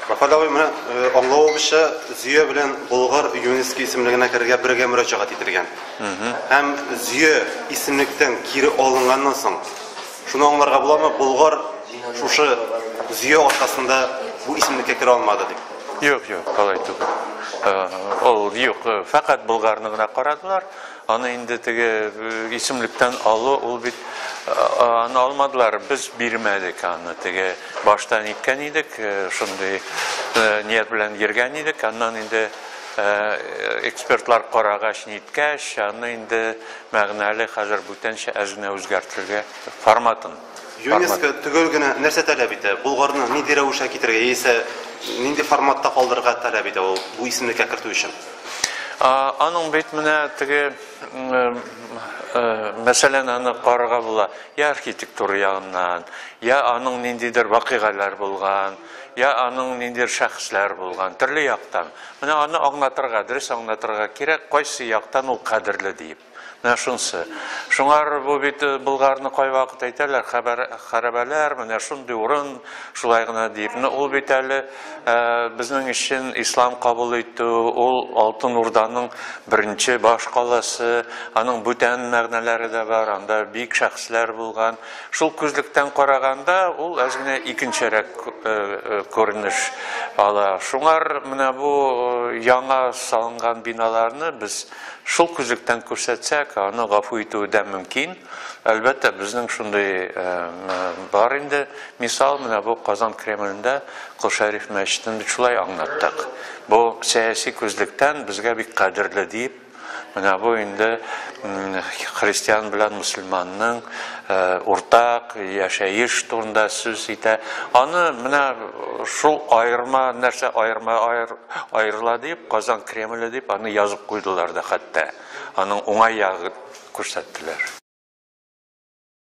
Рафаэль абый, менә э, аңлавыбызча, Зөя белән Болгар ЮНЕСКО исемлегенә керергә бергә мөрәҗәгать ителгән. Һәм Зөя исемлектән кире алынганнан соң, шуны аңларга буламы, Болгар шушы Зөя аркасында бу исемлеккә керә алмады дип. Юк, юк, алай түгел. Ул юк, фәкать Булгарны гына карадылар. Аны инде теге исемлектән алу, ул бит аны алмадылар, без бирмәдек аны. Теге башта ниткән идек, шундый ният белән йөргән идек. Аннан инде экспертлар карагач, ниткәч, аны инде мәгънәле хәзер бүтәнчә әзенә үзгәртергә форматын. ЮНЕСКО төгәл генә нәрсә таләп итә? Булгарны нинди рәвешкә китерергә яисә нинди форматта калдырырга таләп итә ул бу исемлеккә кертү өчен? Аның бит менә теге мәсәлән аны карарга була, я архитектура ягыннан, я аның ниндидер вакыйгаләр булган, я аның ниндидер шәхесләр булган, төрле яктан. Менә аны аңлатырга, дөрес аңлатырга кирәк, кайсы яктан ул кадерле диеп. Менә шунсы. Шуңар бу бит Болгарны кайвакыт әйтәләр, хәбәр, хәрабәләр, менә шундый урын, шулай гына диеп. Менә ул бит әле безнең өчен ислам кабул итү, ул Алтын Урданың беренче баш каласы, аның бүтән мәгънәләре дә бар, анда бик шәхесләр булган. Шул күзлектән караганда, ул әз генә икенчерәк күренеш ала. Шуңар менә бу яңа салынган биналарны без Шул күзлектән күрсәтсәк, аны гафу итүе дә мөмкин. Әлбәттә, безнең шундый бар инде. Мисал, менә бу Казан Кремлендә Кол Шәриф мәчетен бит шулай аңлаттык. Бу сәяси күзлектән безгә бик кадерле дип, менә бу инде христиан белән мөселманның уртак яшәеш турында сүз итә. Аны менә шул аерма нәрсә, аерма, Аерыла дип, Казан Кремле дип аны язып куйдылар да хәтта, аның уңай ягын күрсәттеләр.